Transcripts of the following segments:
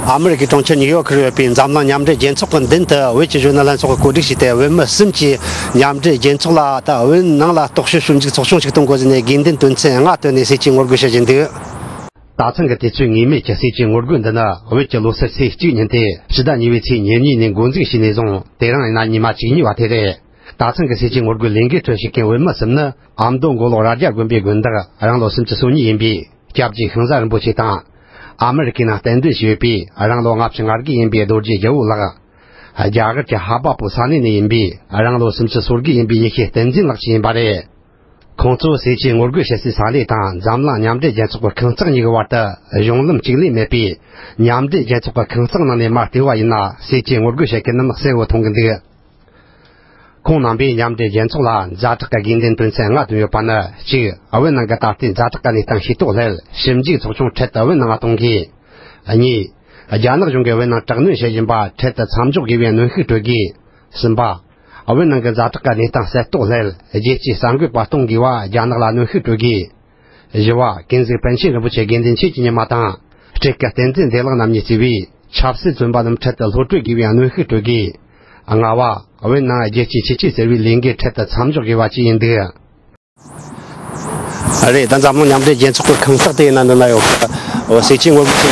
ཨ་མེ་རི་ཁའི་གྲོང་ཁྱེར་ཉིག་ཡོག་གིར་ཡོད་པའི་འཛམ་གླིང་མཉམ་འབྲེལ་རྒྱལ་ཚོགས་ཀྱི་མདུན་དུ་བོད་ཀྱི་གཞོན་ནུ་ལྷན་ཚོགས་ཀྱིས་གོ་སྒྲིག་བྱས་ཏེ་བོད་མི་གསུམ་གྱིས་མཉམ་འབྲེལ་རྒྱལ་ཚོགས་ལ་དང་བོད་ནང་ལ་རྟོག་དཔྱོད་ཞིབ་འཇུག་ཚོགས་ཆུང་ཞིག་གཏོང་དགོས་ཟེར་ནས་དགེ་འདུན་དོན་ཚན་ལྔ་བཏོན་ནས་སྲིད་སྤྱིའི་ངོ་རྒོལ་བྱེད་བཞིན་འདུག། ད་ཐེངས་ཀྱི་དུས་ཚོད་ངེས་མེད་ཀྱི་སྲིད་སྤྱིའི་ངོ་རྒོལ་འདི་ནི་བོད་ཀྱི་ལོ་སར་ཚེས་གཅིག་ཉིན་ཏེ་ཕྱི་ཟླ་གཉིས་པའི་ཚེས་ཉེར་གཉིས་ནས་འགོ་འཛུགས་བྱས་ནས་བཟུང་དེ་རིང་ཡིན་ན་ཉི་མ་གཅིག་ཉེ་བ་དེ་རེད། དག་ཚང་གི་སྲིད་ཇུས་ངོ་རྒོལ་ལས་འགུལ་ཁྲོད་ཞུགས་མཁན་འོས་མི་གསུམ་ནི་ཨ་མདོ་མགོ་ལོག་རྭ་རྒྱ་དགོན་པའི་དགོན་བདག་རང་ལོ་སུམ་ཅུ་སོ་གཉིས་ཡིན་པའི་སྐྱབས་རྗེ་ཤིང་བཟའ་རིན་པོ་ཆེ་དང། ཨ་མེ་རི་ཁའི་ནང་གཏན་སྡོད་བྱས་ཡོད་པའི་རང་ལོ་ལྔ་བཅུ་ལྔ་བརྒྱད་ཡིན་པའི་རྡོ་རྗེ་རྒྱལ་བོ་ལགས། རྒྱ་གར་གྱི་ཧ་པ་པོ་ས་གནས་ནས་ཡིན་པའི་རང་ལོ་སུམ་ཅུ་སོ་དགུ་ཡིན་པའི་ཡེ་ཤེས་བསྟན་འཛིན་ལགས་བཅས་ཡིན་པ་རེད། ཁོང་ཚོས་སྲིད་ཇུས་ངོ་རྒོལ་བྱེད་སའི་ས་གནས་དང་འཛམ་གླིང་མཉམ་འབྲེལ་རྒྱལ་ཚོགས་ཀྱི་ཁང་བརྩེགས་གཉིས་ཀྱི་བར་དུ་གཞུང་ལམ་གཅིག་ལས་མེད་པས། མཉམ་འབྲེལ་རྒྱལ་ཚོགས་ཀྱི་ཁང་བརྩེགས་ནང་ནས་མར་ལྟེ་བ་ཡིན་ན་སྲིད་ཇུས་ངོ་རྒོལ་བྱེད་མཁན་རྣམས་གསལ་བོ་མཐོང་གི་འདུག། ཁོང་རྣམ་པས་མཉམ་འབྲེལ་རྒྱལ་ཚོགས་ལ་མཛའ་གྲགས་ཀྱི་དགེ་འདུན་དོན་ཚན་ལྔ་བཏོན་ཡོད་པ་ནི་གཅིག་བོད་ནང་གི་ད་ལྟའི་མཛའ་གྲགས་ཀྱི་གནས་སྟངས་ཤེས་རྟོགས་སླད་ཞིབ་འཇུག་ཚོགས་ཆུང་འཕྲལ་དུ་བོད་ནང་ལ་གཏོང་དགོས། གཉིས། རྒྱ་ནག་གཞུང་གིས་བོད་ནང་དྲག་གནོན་བྱེད་བཞིན་པ་འཕྲལ་དུ་མཚམས་འཇོག་དགོས་པའི་གནོན་ཤུགས་སྤྲོད་དགོས། གསུམ་པ། བོད་ནང་གི་མཛའ་གྲགས་ཀྱི་གནས་སྟངས་གསལ་རྟོགས་སླད་རྒྱལ་སྤྱིའི་གསར་འགོད་པ་གཏོང་དགོས་པ་རྒྱ་ནག་ལ་གནོན་ཤུགས་སྤྲོད་དགོས། བཞི་བ། བསྟན་འཛིན་པཎ་ཆེན་རིན་པོ་ཆེ་དགེ་འདུན་ཆོས་ཀྱི་ཉི་མ་དང། སྤྲེལ་དཀར་བསྟན་འཛིན་བདེ་བླག་རྣམ་གཉིས་གཙོས་པའི་ཆབ་སྲིད་བཙོན་པ་རྣམས་འཕྲལ་དུ་ལྷོད་སྤྲོད་དགོས་པའི་གནོན་ཤུགས་སྤྲོད་དགོས། ལྔ་བ། བོད་ནང་རྒྱལ་གཅེས་ཆོས་གཅེས་ཟེར་བའི་ལས་འགན་འཕྲལ་དུ་མཚམས་འཇོག་དགོས་པ་བཅས་ཡིན་འདུག། རེད་ད་འཛམ་གླིང་མཉམ་འབྲེལ་རྒྱལ་ཚོགས་ཀྱི་ཁང་བརྩེགས་དེའི་ནང་དུ་ན་ཡོ་ཁ་འོ་སེ་ཅི་དངོས་པོ་ཅི།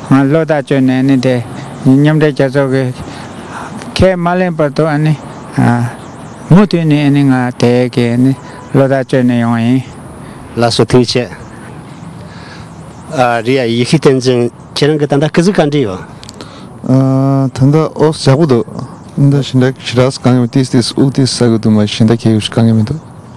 ང་བློ་ཐག་ཆོད་ནས་ནི་དེ་མཉམ་འབྲེལ་རྒྱལ་ཚོགས་ཀྱི་ཁས་མ་ལེན་བར་དུ་ནི་མུ་མཐུད་ནས་ནི་ང་དེ་གའི་ནི་བློ་ཐག་ཆོད་ནས་ཡོང་བ་ཡིན། ལ་སོ་ཐུགས་ཆེ། ཨ་རི་ཡ་ཡེ་ཤུ་བསྟན་འཛིན་ཁྱེད་རང་གི་ད་ལྟ་ཀི་ཟི་གང་འདྲི་ཡོད། ད་ལྟ་ཨོ་ཞག་པོ་འདུག་འདི་ཞིན་ཏག་ཤི་རགས་སུ་གང་གི་མི་ཏིས་ཏིས་ཨུག་ཏིས་ས་གི་དུ་མ་ཞིན་ཏག་ཁྱེད་གི་ཤུ་གང་གི་མི་འདུག།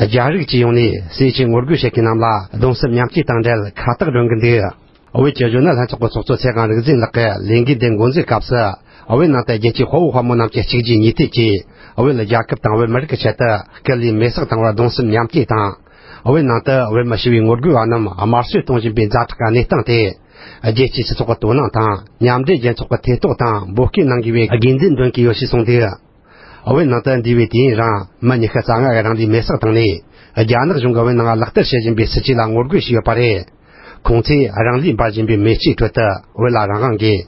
རྒྱ་རིགས་སྤྱི་ཡོངས་ནས་སེ་ཆེན་ངོ་རྒོལ་བྱེད་མཁན་རྣམས་ལ་གདུང་སེམས་མཉམ་སྐྱེད་དང་འབྲེལ་ཁ་བཏགས་སྒྲོན་གྱི་འདུག་བོད་ཀྱི་གཞོན་ནུ་ལྷན་ཚོགས་ཀྱི་ཚོགས་གཙོ་ཚེ་གང་རིག་འཛིན་ལགས་ཀྱིས་ལས་འགུལ་འདི་མགོ་འཛུགས་སྐབས་སུ། བོད་ནང་དུ་རྒྱལ་སྤྱིའི་དཔའ་བོ་དཔའ་མོ་རྣམས་ཀྱི་གཅིག་རྗེས་གཉིས་མཐུད་ཀྱིས། བོད་རྒྱལ་ཁབ་དང་བོད་མི་རིགས་ཀྱི་ཆེད་དུ་སྐུ་ལུས་མེ་སྲེག་བཏང་བར་གདུང་སེམས་མཉམ་སྐྱེད་དང། བོད་ནང་དུ་བོད་མི་ཞི་བའི་ངོ་རྒོལ་བ་རྣམས་དམར་གསོད་གཏོང་བཞིན་པའི་མཛའ་གྲོགས་ཀྱི་གནས་སྟངས་དེ། རྒྱལ་སྤྱིའི་སྤྱི་ཚོགས་ཀྱི་དོ་སྣང་དང་མཉམ་འབྲེལ་རྒྱལ་ཚོགས་ཀྱི་ཐེ་གཏོགས་དང་འབོད་སྐུལ་གནང་དགོས་པའི་དགོས་འདུན་འདོན་གྱི་ཡོད་ཅེས་གསུངས་འདུག། བའི་ནང་དུ་འདུས་པའི་དུས་ཡུན་རིང་མི་ཉི་ཤུ་རྩ་ལྔ་གི་རིང་ལུས་མེ་སྲེག་བཏང་ནས་རྒྱ་ནག་གཞུང་གི་བོད་ནང་ལག་བསྟར་བྱེད་བཞིན་པའི་སྲིད་བྱུས་ལ་ངོ་རྒོལ་ཞུས་ཡོད་པ་རེད། ཁོང་ཚོས་རང་ལུས་འབར་བཞིན་པའི་མེ་ལྕེའི་ཁྲོད་དུ་བོད་ལ་རང་དབང་དགོས།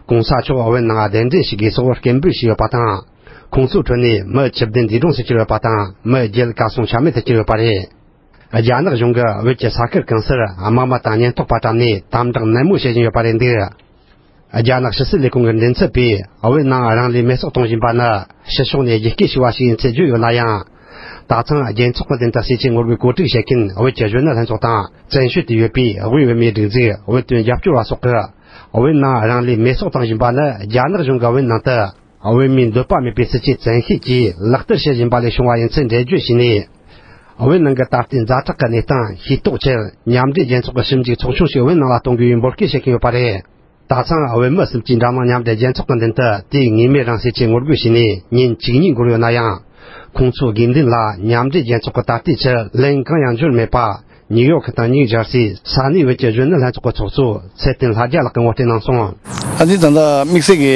གོང་ས་མཆོག་བོད་ནང་གདན་འདྲེན་ཞུ་དགོས་སོགས་སྐད་འབོད་བྱས་ཡོད་པ་དང། ཁོང་ཚོའི་ཁྲོད་ནས་མི་ཆིབས་བདུན་འདས་གྲོངས་སུ་གྱུར་ཡོད་པ་དང་མི་བརྒྱད་གར་སོང་ཆ་མེད་དུ་གྱུར་ཡོད་པ་རེད། རྒྱ་ནག་གཞུང་གིས་བོད་ཀྱི་ས་ཁུལ་གང་སར་དམག་མི་དང་ཉེན་རྟོག་པ་བཀྲམ་ནས་དམ་བསྒྲགས་ནན་མོ་བྱེད་བཞིན་ཡོད་པ་རེད་འདུག། རྒྱ་ནག་ཕྱི་སྲིད་ལས་ཁུངས་ཀྱི་འགྲེལ་མཚམས་པས་བོད་ནང་རང་ལུས་མེར་བསྲེགས་གཏོང་བཞིན་པ་ནི་ཕྱི་ཕྱོགས་ནས་རྒྱལ་སྤྱིའི་ཞི་བ་ཞིག་ཡིན་ཚུལ་བརྗོད་ཡོད་ན་ཡང། དག་ཚང་རྒྱལ་ཚོགས་ཀྱི་མདུན་དུ་སྲིད་ཇུས་ངོ་རྒོལ་གོ་སྒྲིག་བྱེད་མཁན་བོད་ཀྱི་གཞོན་ནུ་ལྷན་ཚོགས་དང་བཙན་བྱོལ་དུ་ཡོད་པའི་དབུས་བོད་མིའི་སྒྲིག་འཛུགས་བོད་དོན་རྒྱབ་སྐྱོར་བ་སོགས་ཀྱིས་བོད་ནང་རང་ལུས་མེར་བསྲེགས་བཏང་བཞིན་པ་ནི་རྒྱ་ནག་གཞུང་གིས་བོད་ནང་དུ། འོས་མིའི་འདོད་པ་མེད་པའི་སྲིད་བྱུས་བཙན་ཤེད་ཀྱིས་ལག་བསྟར་བྱེད་བཞིན་པ་ལས་བྱུང་བ་ཡིན་ཚུལ་འགྲེལ་བརྗོད་བྱས་ནས། བོད་ནང་གི་ད་ལྟའི་མཛའ་གྲགས་ཀྱི་གནས་སྟངས་ཤེས་རྟོགས་ཕྱིར་མཉམ་འབྲེལ་རྒྱལ་ཚོགས་ཀྱི་ཞིབ་འཇུག་ཚོགས་ཆུང་ཞིག་བོད་ནང་ལ་གཏོང་དགོས་པའི་འབོད་སྐུལ་བྱེད་ཀྱིན་ཡོད་པ་རེད། ད་ཆའང་བོད་མི་གསུམ་གྱིས་འགྲམ་ནང་མཉམ་འབྲེལ་རྒྱལ་ཚོགས་ཀྱི་མདུན་དུ་དུས་ངེས་མེད་རང་སྲེག་ཆེད་ངོ་རྒོལ་བྱས་ནས་ཉིན་གཅིག་གཉིས་འགོར་ཡོད་ན་ཡང། ཁོང་ཚོའི་དགེ་འདུན་ལ་མཉམ་འབྲེལ་རྒྱལ་ཚོགས་ཀྱི་ད་ལྟའི་ཕྱིར་ལན་གང་ཡང་འབྱོར་མེད་པ། ཉིག་ཡོག་གི་དང་ཉིག་ཇར་སི་ས་གནས་བོད་ཀྱི་གཞོན་ནུ་ལྷན་ཚོགས་ཀྱི་ཚོགས་གཙོ་ཚེ་བརྟན་ལྷ་རྒྱལ་ལགས་ཀྱིས་ངོ་སྤྲོད་གནང་སོང། ཨ་ཙི་ད་ལྟ་དམིགས་བསལ་གྱི་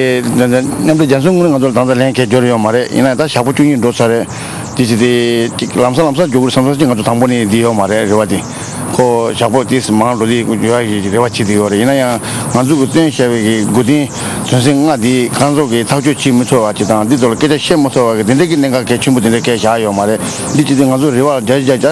མཉམ་འབྲེལ་རྒྱལ་མཚོའི་དངུལ་ལོས་ང་ཚོ་ལ་ད་ལྟ་ལན་འཁེལ་འགྱོ་རེ་ཡོད་མ་རེད་ཡིན་ན་ད་ཞག་པོ་བཅུ་གཉིས་འགྲོ་ཚར་རེད་དེ་ཅི་དེ་ཅིག་ལམ་སང་ལམ་སང་འགྱོ་དགོས་རེད་བསམ་ས་ཅིག་ང་ཚོ་དང་པོ་ནས་འདི་ཡོད་མ་རེད་རེ་བ་དེ་ཁོ་ཞག་པོ་དེ་ཟིན་མང་འགྲོ་དེ་འགྱོ་ཡ་ཞིག་རེ་བ་བྱེད་དེ་ཡོད་རེད་ཡིན་ན་ཡང་ང་ཚོ་གི་བཏོན་ཞེས་པའི་གི་དགོས་བདེན་དོན་སེམས་ལྔ་དེ་གང་རྫོགས་གི་ཐག་གཅོད་བྱེད་མི་ཚོར་བ་དེ་དང་འདི་ཚོ་ལ་སྐད་ཆ་བཤད་མ་ཚོར་བ་གི་དེ་འདྲའི་གི་གནད་འགག་གལ་ཆེན་པོ་དེ་འདྲའི་གས་ཞག་ཡོད་མ་རེད་འདི་ཅི་དེ་ང་ཚོ་རེ་བ་རྒྱ་རྒྱ་རྒྱ།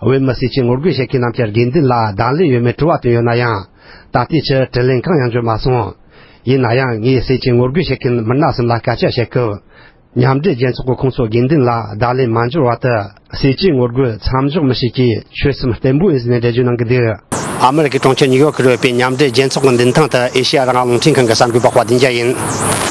བོད་མི་སེར་སྐྱའི་ངོ་རྒོལ་བྱེད་མཁན་རྣམས་ཀྱི་དགེ་འདུན་ལ་གདང་ལེན་ཡོད་མེད་དྲི་བ་བཏོན་ཡོད་ན་ཡང། ད་ལྟའི་ཆར་དྲིས་ལན་གང་ཡང་འབྱོར་མ་སོང། ཡིན་ན་ཡང་ངས་སེར་སྐྱའི་ངོ་རྒོལ་བྱེད་མཁན་མི་སྣ་གསུམ་ལ་སྐད་ཆ་བཤད་སྐབས། མཉམ་འབྲེལ་རྒྱལ་ཚོགས་ཀྱི་ཁོངས་སུ་དགེ་འདུན་ལ་གདང་ལེན་མ་འབྱོར་བར་དུ་སེར་སྐྱའི་ངོ་རྒོལ་མཚམས་འཇོག་མི་བྱེད་ཅེས་ཆོལ་གསུམ་བརྟན་པོའི་ཨིན་ཟི་ནས་འགྲེལ་བརྗོད་གནང་གི་འདུག། ཨ་མི་རི་ཀའི་གྲོང་ཁྱེར་ཉིའུ་ཡོག་གི་རུ་སྤེལ་མཉམ་འབྲེལ་རྒྱལ་ཚོགས་ཀྱི་མདུན་ཐང་དུ་ཨེ་ཤི་ཡ་རང་དབང་རླུང་འཕྲིན་ཁང་གི་གསར་འགོད་པ་དཔའ་ལྡན་རྒྱ་ཡིས།